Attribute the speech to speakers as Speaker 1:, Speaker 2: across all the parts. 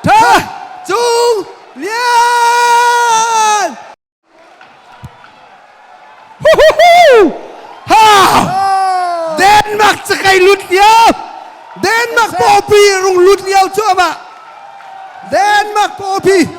Speaker 1: Tha Cung Lian! Ha! Denmark cakai lut lio. Denmark pawpi rung lut lio cu amah. Denmark pawpi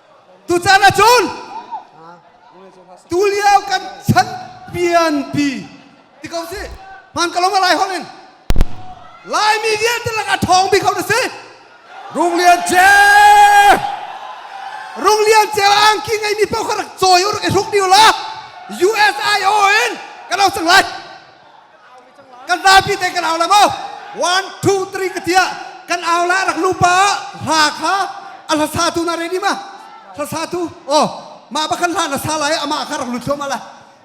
Speaker 1: Tuchan ahcun tulio kan chan pianpi ti ko si hman ka lawng lai holh in Laimi vialte lakah ṭhawng bik ho na si Rung Lian Ce Rung Lian Ceu angki ngeimi paoh kha rak cawi u rak i hruk ni u la US IO in ka lo cang lai kan zapi te kan au la maw one two three ka tia kan au la rak nupa hla kha a hlasa tu na ready ma hlasa tu o ma ba kan hla na sa lai ama kha rak lut thum ala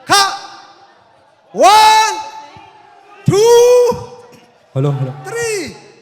Speaker 1: kha one two hello hello three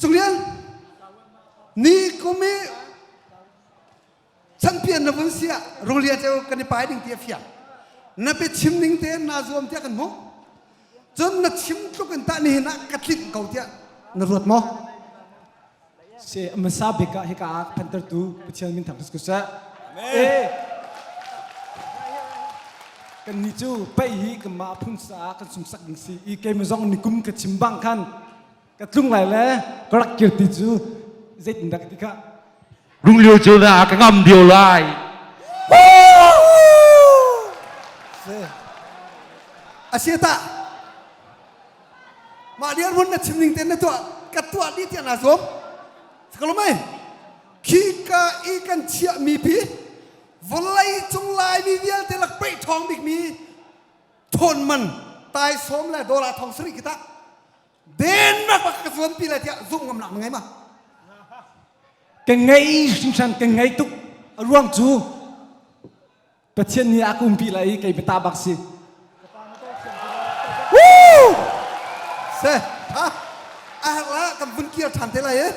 Speaker 1: Cunglian nikum i champion na vun si ah rulia ceu kan i pai ding ti a fiang na pe chim ning te na zuam tiah kan hmuh cun na chim tluk in tah nihin ah ka tlik ko tiah na ruat maw se amasa beka hika ah phantar tu pathian min thang kusku sa eh kan ni cu pai hi kan ma phun sa kan sum sak ding si i ke ma zong nikum ka chim bang khan ka tlung lai le ka rak kir ti cu zei tin dak ti kha runglio cu na ka ngam dio lai asi ta mah dia run na chim ning ten na tuah ka tuah ni tiang na zom sakalomai khi ka i kan chia mi pi volai cung lai mi vialte lak pe thong bik mi thon man tai som le dola thong sri kita dennak bak ka zuan pi lai tiah zumh ngam nak ngai ma ka ngei hringhran ka ngei tuk a ruang cu pathian nih a kum pi lai i kei bata bak si Woo! se ha a har la kan vun kir than te lai e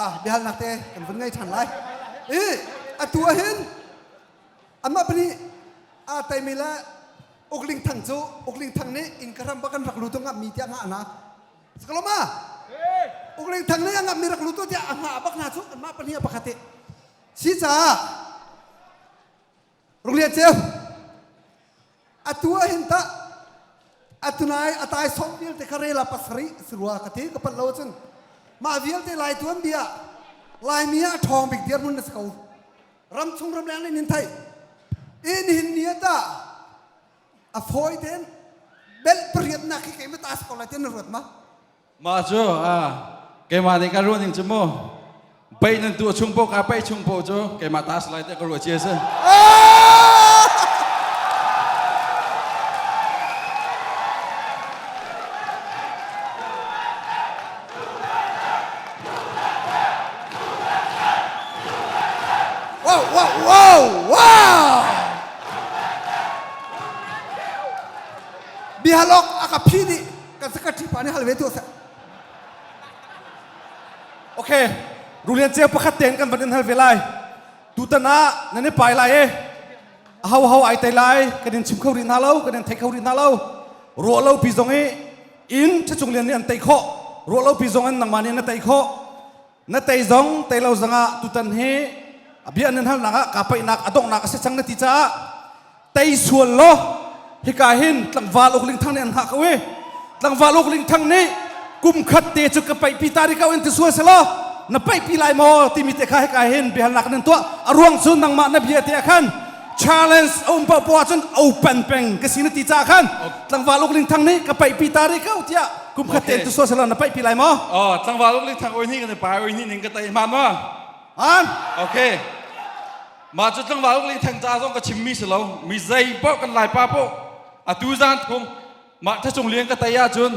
Speaker 1: ah biahal nak te kan vun ngai than lai i atu ah hin Amah pahnih aa teimi le Uk Ling Thang cu Uk Ling Thang nih inn ka ram bak an rak lutu ngamhmi tiah nga a ngak. Sakalawma! Uk Ling Thang nih a ngamhmi rak lutu tiah a nga a bak hna cu anmah pahnih a pakhat i. Si caah, Rung Lian Ceu, atu ah hin tah atunai atai song vialte kha rela pasarih si rua ka ti ka pal lo cun mah vialte lai tuan bia laimi ah ṭhawng bik dir mun na si ko ram chung ram leng nin thai in hin ni ta a fawi ten bel pariat nak hi kei ma ta ko lai ten na ruat ma mah cu keimah nih ka ruah ning cu mu bei nan tu chung po ka pei chung po cu keimah ta salai te ka ruah cia si Wow, wow, wow, wow! Bihalok aka phi nih Kan sakhat ṭhipa nih hal ve tu a si. Ok, Rulian Ceu pakhat tein kan van in hal ve lai. Tutan ah nan i pai lai e. A ho ho ai tai lai kan in chim kho rih hna lo, kan in thei kho rih hna lo. Ruah lo pi zong i in ṭhacung lian nih an tei khawh. Ruah lo pi zong in nangmah nih na tei khawh. na tei zong tei lo zongah tutan hi bia nan halnak ah ka paihnak a donghnak a si cang na ti caah tei sual law hika hin tlangval uk ling thang nih an hak ko i tlangval uk ling thang nih kum khat te cu ka paih pi ta ri kau in ti sual se law na paih pi lai maw timi te kha hika hin biahalnak nan tuah a ruang cu nangmah na bia te ah khan challenge a um paoh poah cun open peng ka si na ti ca khan tlangval uk ling thang nih ka paih pi ta ri ko tiah kum khat te tu so sala na paih pi lai maw oh tlangval uk ling thang oi ni kan pai oi ni ning ka tai ma ma an okay ma chu tlangval uk ling thang ca zong ka chim mi si lo mi zei poh kan lai pa poh atu zan thum ma tha chung liang ka tai ah cun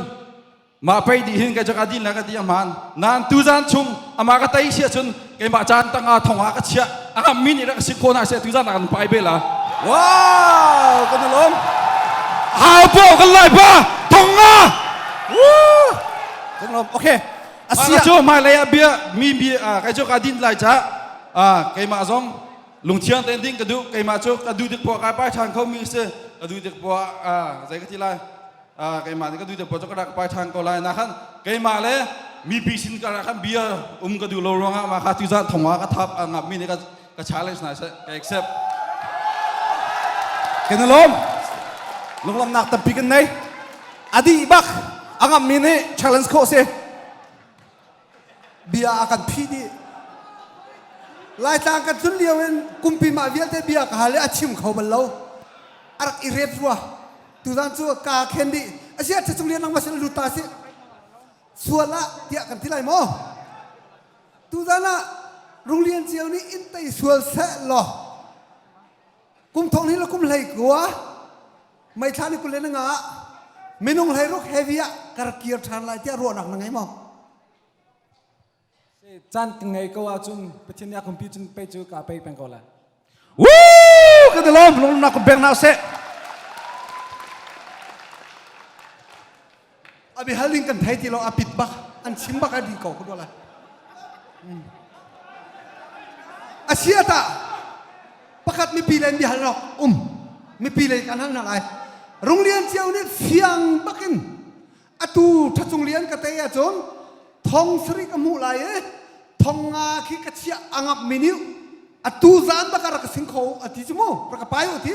Speaker 1: mah pei di hin kai cu ka din le ka ti ahmaan nan tu zan chung ama ka tei sia cun keimah caan tang ah thong ah ka chiah a min ira ka si kho na se tu zan ah kan pai bela wow kan lom hau po kan lai pa thong ah kan lom okay asia cu mai lei a bia mi bi kai cu ka din lai cha a keimah zong lungthiang ten ding ka du keimah cu ka du dik po kai pai than kho mi se ka du dik po a zai ka ti lai keimah nih ka duite puan cu ka rak pai ṭhan ko lai na khan keimah le mipi sin ka rak khan bia um ka duh lo ruangah mah kha tuzan thong ah ka thap ngap mi nih ka ka challenge hna seh ka accept kan lom lunglamnak tampi kan nei adih bak angam mi nih challenge ko se bia a kan phih dih laitlang kan tlun lio in kumpi mah vialte bia ka hal i a chim kho bal lo a rak i rep rua tuzan cu ka khen dih a si a cung lian lang ma si lut ta si sual ah tiah kan ti lai maw tuzan ah runglian cio nih in tei sual seh law kum thong hnih le kum hlei kua Meithla ni kul in nga ah minung hleiruk heavy ah kar kir ṭhan lai tiah ruahnak na ngei maw? Caan ka ngei ko ahcun Pathian nih a kumpi cun pei cu kaa pei peng ko lai. Woo! Ka dalam lung na kumpeng hna seh. a biahal ding kan thei ti lo a pit bak an chim bak a dih ko ka lai a si a tah pakhat mipi le biahal rawk um mipi le kan hal na lai rung lian cio nih fiang bakin atu ṭhacung lian ka tei ahcun thong sarik a hmuh lai e thong nga khi ka chiah a ngap miniu atu zan bak a rak ka sin kho a ti cu mu rak ka pai u ti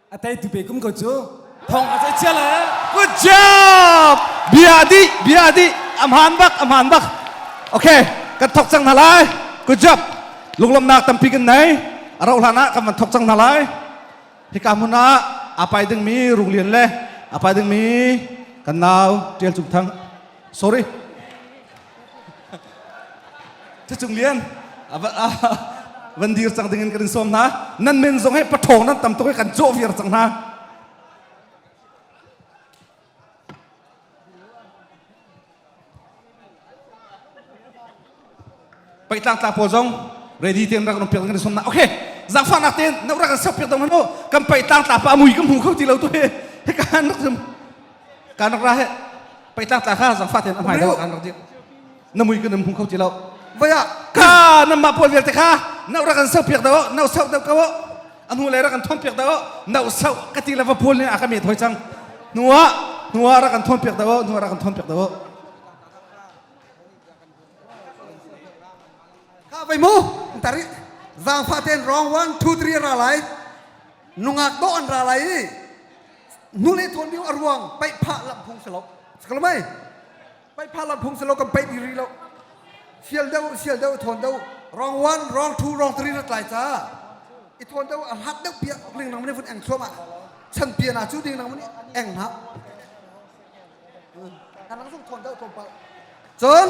Speaker 1: a teitu pe kum ko cu thong a cei cia lai good job bia di bia di a hmaan bak a hmaan bak okay kan thok cang hna lai good job lunglomnak tampi kan nei a rauh hlan ah kan van thok cang hna lai hika hmun ah apai dingmi runglian le apai dingmi kan nau tial cung thang sorry Cucung lian van dir cang ding in kan in sawm hna nan men zong he pathawng nan tam tuk he kan cawh viar cang hna pai tlang tla pawl zong ready ten rak ram piak kan son na okay zakfa nak ten na rak sak piak dong hanu kan pai tlang tla pa mui kan hmu kho ti lo tu he he kan rak zum kan rak ra he peitlang tla kha zangfa ten a hmai deuh kan rak dir na mui kan hung kho ti lo vaya ka na ma pawl vialte kha no ra kan sau piak do no sau do ko a nu le ra kan thon piak do no sau ka ti la va pawl ne a ka me thoi chang nuwa nuwa ra kan thon piak do nuwa ra kan thon piak do ka vai mu tari zangfa ten wrong one two three ra lai nungak do an ra lai nu le thawn mio a ruang paihphah lamh phung si lo sakal mai paihphah lamh phung si lo kan paih riri lo sial deuh sial deuh thawn deuh rong one rong two rong three na tlai ca i thawn deuh a hlat deuh piak ling nang mene vun eng thluam ah chan pian ah cu ding nang mene eng ha kan nang sung thawn deuh thawn pal cun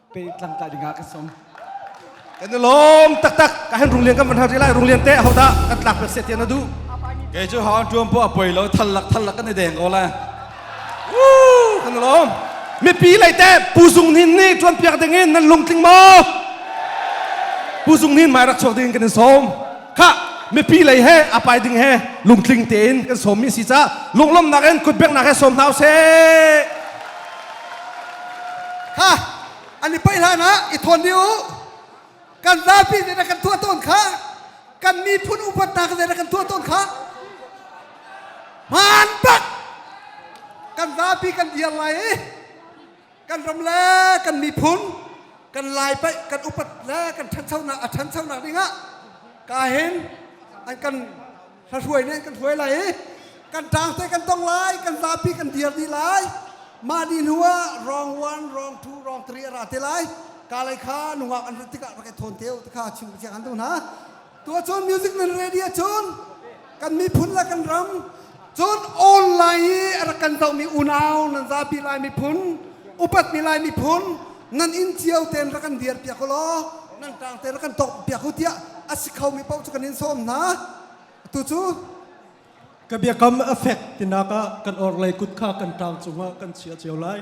Speaker 1: pe tlang tla dingah ka sawm kan i lawm taktak ka hen rung lian kan van har lai rung lian te ho dah kan tlak pe se tian na du kei cu hon tuam po a poi lo thal lak thal lak kan i deng ko la kan lawm mipi lei te pu zung nin ni tuan piak ding in nan lung tling mo pu zung nin mai rak chuak ding kan in som kha mipi lei he apai ding he lungtling tein kan som mi si ca lunglom nak in kutbek nak he som hna se Kha an i paih hlanah i thawn dih u. Kan zapi zeidah kan tuah tawn kha kan miphun upatnak zeidah kan tuah tawn kha hmaan tak kan zapi kan dir lai i kan ram le kan miphun kan lai paih kan upat le kan ṭhanchonak a ṭhanchonak dingah kahin an kan Hlahruai nih kan hruai lai i kan ṭaang te kan tong lai, kan zapi kan dir dih lai. Mah ni hnu ah rong one, rong two, rong three a ra te lai. Ka lei kha nungak an rat tikah rak i thawn te u ti kha chim ka han duh hna. Tuacun music nan ready ahcun kan miphun le kan ram cun online i a rak kan dohmi unau nan zapi lai miphun, upatmi lai miphun nan inn cio ten rak kan dir piak u law Nan kaang te na kan tawk biak u tiah a si kho mi paoh cu kan in sawm hna. Tu cu ka biakam a fek tinak ah kan orlei kut kha kan ṭaang cungah kan chia cio lai.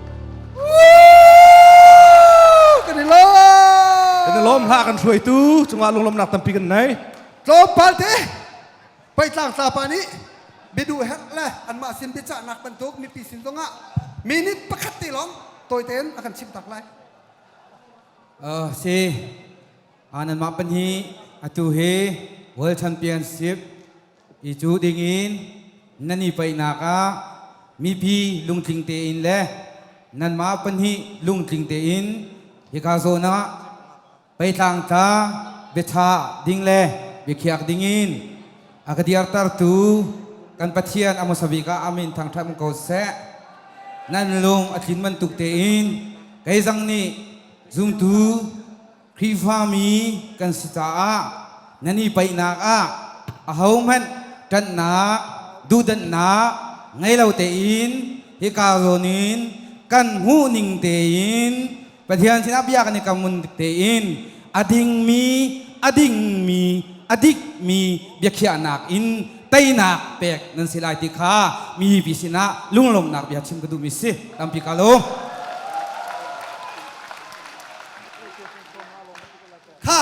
Speaker 1: kan i lawm kan i lawm hla kan hruaitu cungah lunglawmnak tampi kan nei tlawmpal te peitlang tlapa nih biadu hek le anmah sin biacahnak bantuk mipi sin zongah minute pakhat te lawng tawi tein a kan chimh tak lai uh, si anan mah pan hi atu hi world championship I cu dingin nan i peihnak ah mipi lungtling tein le nanmah pahnih lungtling tein hika zawn ah peitlang tla biaṭha ding le biakhiak dingin a ka dirtertu kan Pathian a hmasa bik ah amin thangṭhat ko seh. Nan lung a tlin bantuk tein kei zang nih zumtu Khrihfami kan si caah nan i paihnak ah ahohmanh ṭanhnak, duhdanhnak ngei lo tein hika zawn in kan hmuhning tein Pathian sinah bia kan i kam ngun tein a dingmi, a dingmi, a dikmi biakhiahnak in teinak pek nan si lai ti kha mipi sinah lunglawmhnak bia chim ka duhmi si. Tampi ka lawm. kha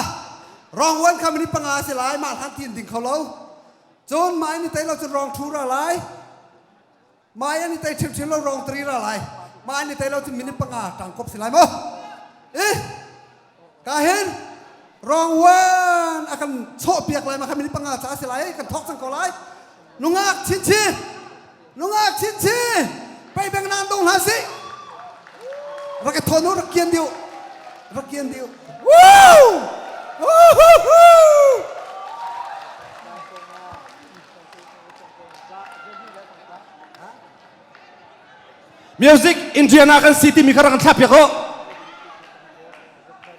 Speaker 1: rongwan kha minute panga a si lai mah hlang tin ding kho lo cun mai ni tei lo cun rong thu ra lai mai ani tei chim chim lo rong tri ra lai mai ni tei lo cun minute panga tang kop si lai mo i ka hin rongwan akan chho piak lai ma kha minute panga cha si lai kan thok sang ko lai nungak chin chin Nungak chinchi pei beng nan dong hna si. Rak ka thawn u rak kian dih u. Rak kian dih u. Woo! Woohoo! Music Indiana kan si timi kha rak kan thlak piak u.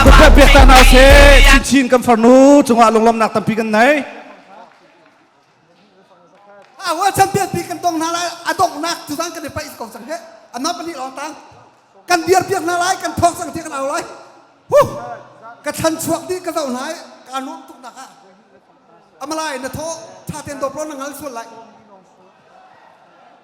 Speaker 1: Rupiah biak ta hna se chinchin kan farnu cungah lunglawmnak tampi kan nei. Ah, wa champion pi kan tong hna lai a donghnak cu kan kan paih ko sang ke amma pani long tang kan biar piak hna lai kan thok sang ti kan au lai huh ka chan chuak di ka zau nai ka nuam tuk tak ah amalai na tho tha ten do pron ngal sual lai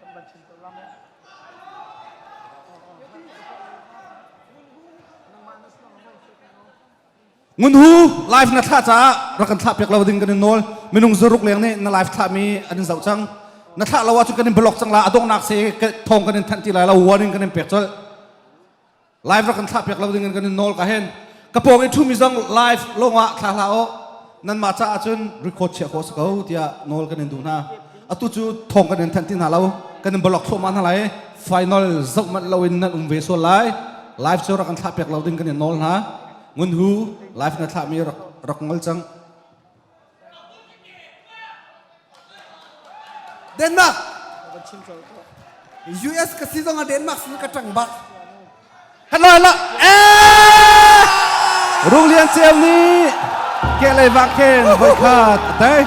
Speaker 1: kan van chim ko lam eh. ngun hu live na thla caah rak kan thlah piak lo ding kan in nawl minung zaruk leng nih na live thla mi an in zoh cang na thlah lo ah cun kan in block cang la adongnak se thong kan in thanh ti lai lo warning kan in pek col live rak kan thlah piak lo ding in kan in nawl ka hen ka pawng i ṭhumi zong live lawng ah thla hla u nanmah caah cun record chiah khawh si ko tiah nawl kan in duh hna atu cu thawng kan in thanh ti hna lo kan in block thawhma hna lai final zoh manh lo in nan um ve sual lai live cu rak kan thlah piak lo ding kan in nawl hna ngun hu live na thlahmi rak rak ngol cang Denmark US ka si zong ah Denmark sin ka ṭang bak halo halo Rung Lian Siam nih ke lei vak khen voi khat a tai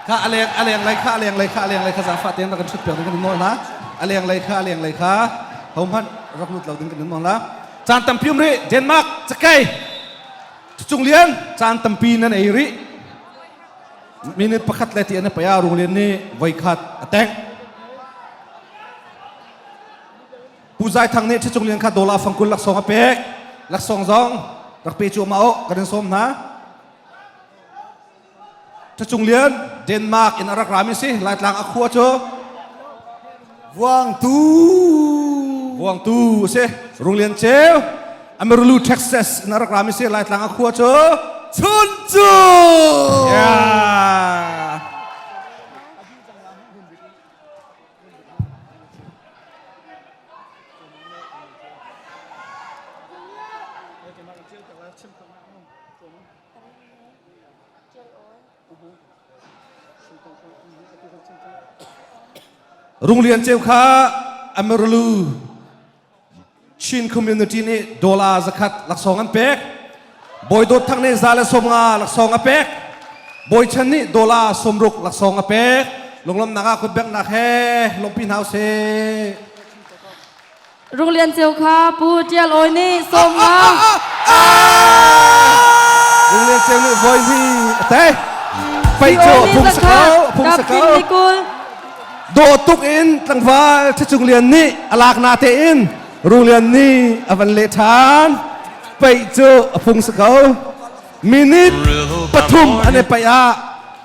Speaker 1: kha a leng a lenglei kha a lenglei kha a lenglei kha zaangfah tein rak kan ṭhut piak ding kan in nawl hna a lenglei kha a lenglei kha hohmanh rak lut lo ding kan in nawl hna caan tampi um rih Denmark cakei cucung lian caan tampi nan ei rih minute pakhat le ti an i paya rung lian nih voi khat a teng Pu Zai Thang nih Ṭhicung Lian kha dawla fangkul laksawng a pek. Laksawng zong rak pe cu ma oh, kan in sawm hna. Ṭhicung Lian, Denmark in a rak rami si, Laitlang a khua cu Vuangtu Vuangtu si, Rung Lian Ceu, Amarulu, Texas in a rak rami si, Laitlang a khua cu Chuncu. Yeah. Runglian Ceu kha Amaralu Chin community nih dollar zakhat laksawng an pek bawi dawt thang nih za le sawmnga laksawng a pek bawi chan nih dollar sawmruk laksawng a pek lunglomnak ah kutbeknak he lawmpi hna usih Runglian Ceu kha Pu Tial Awi nih sawmnga Runglian Ceu nih voizi a tei fei cu a phung sakau a phung sakau dawh tuk in tlangval ṭhacung lian nih a lak na tein Rung Lian nih a van leh ṭhan peih cu a phung si ko minute pathum an i peih ah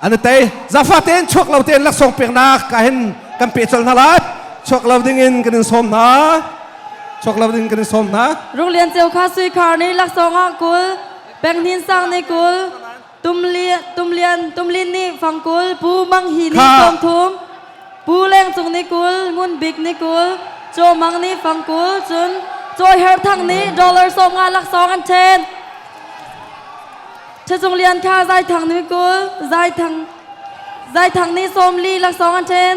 Speaker 1: an i tei zafa tein chuak lo tein laksawng peknak ka hin kan pe colh hna lai chuak lo ding in kan in sawm hna chuak lo ding kan in sawm hna Rung Lian Ceu kha sui khar ni laksawng ah kul penghin sang ni kul Tumlian Tumlin nih fangkul Pu Mang Hi nih thawngthum Pu Leng Cung nih kul Ngun Bik nih kul Caw Mang nih fangkul cun Caw Her Thang nih dollar sawmnga laksawng an ṭhen Ṭhacung Lian Kha Zai Thang nih kul Zai Thang Zai Thang nih sawmli laksawng an ṭhen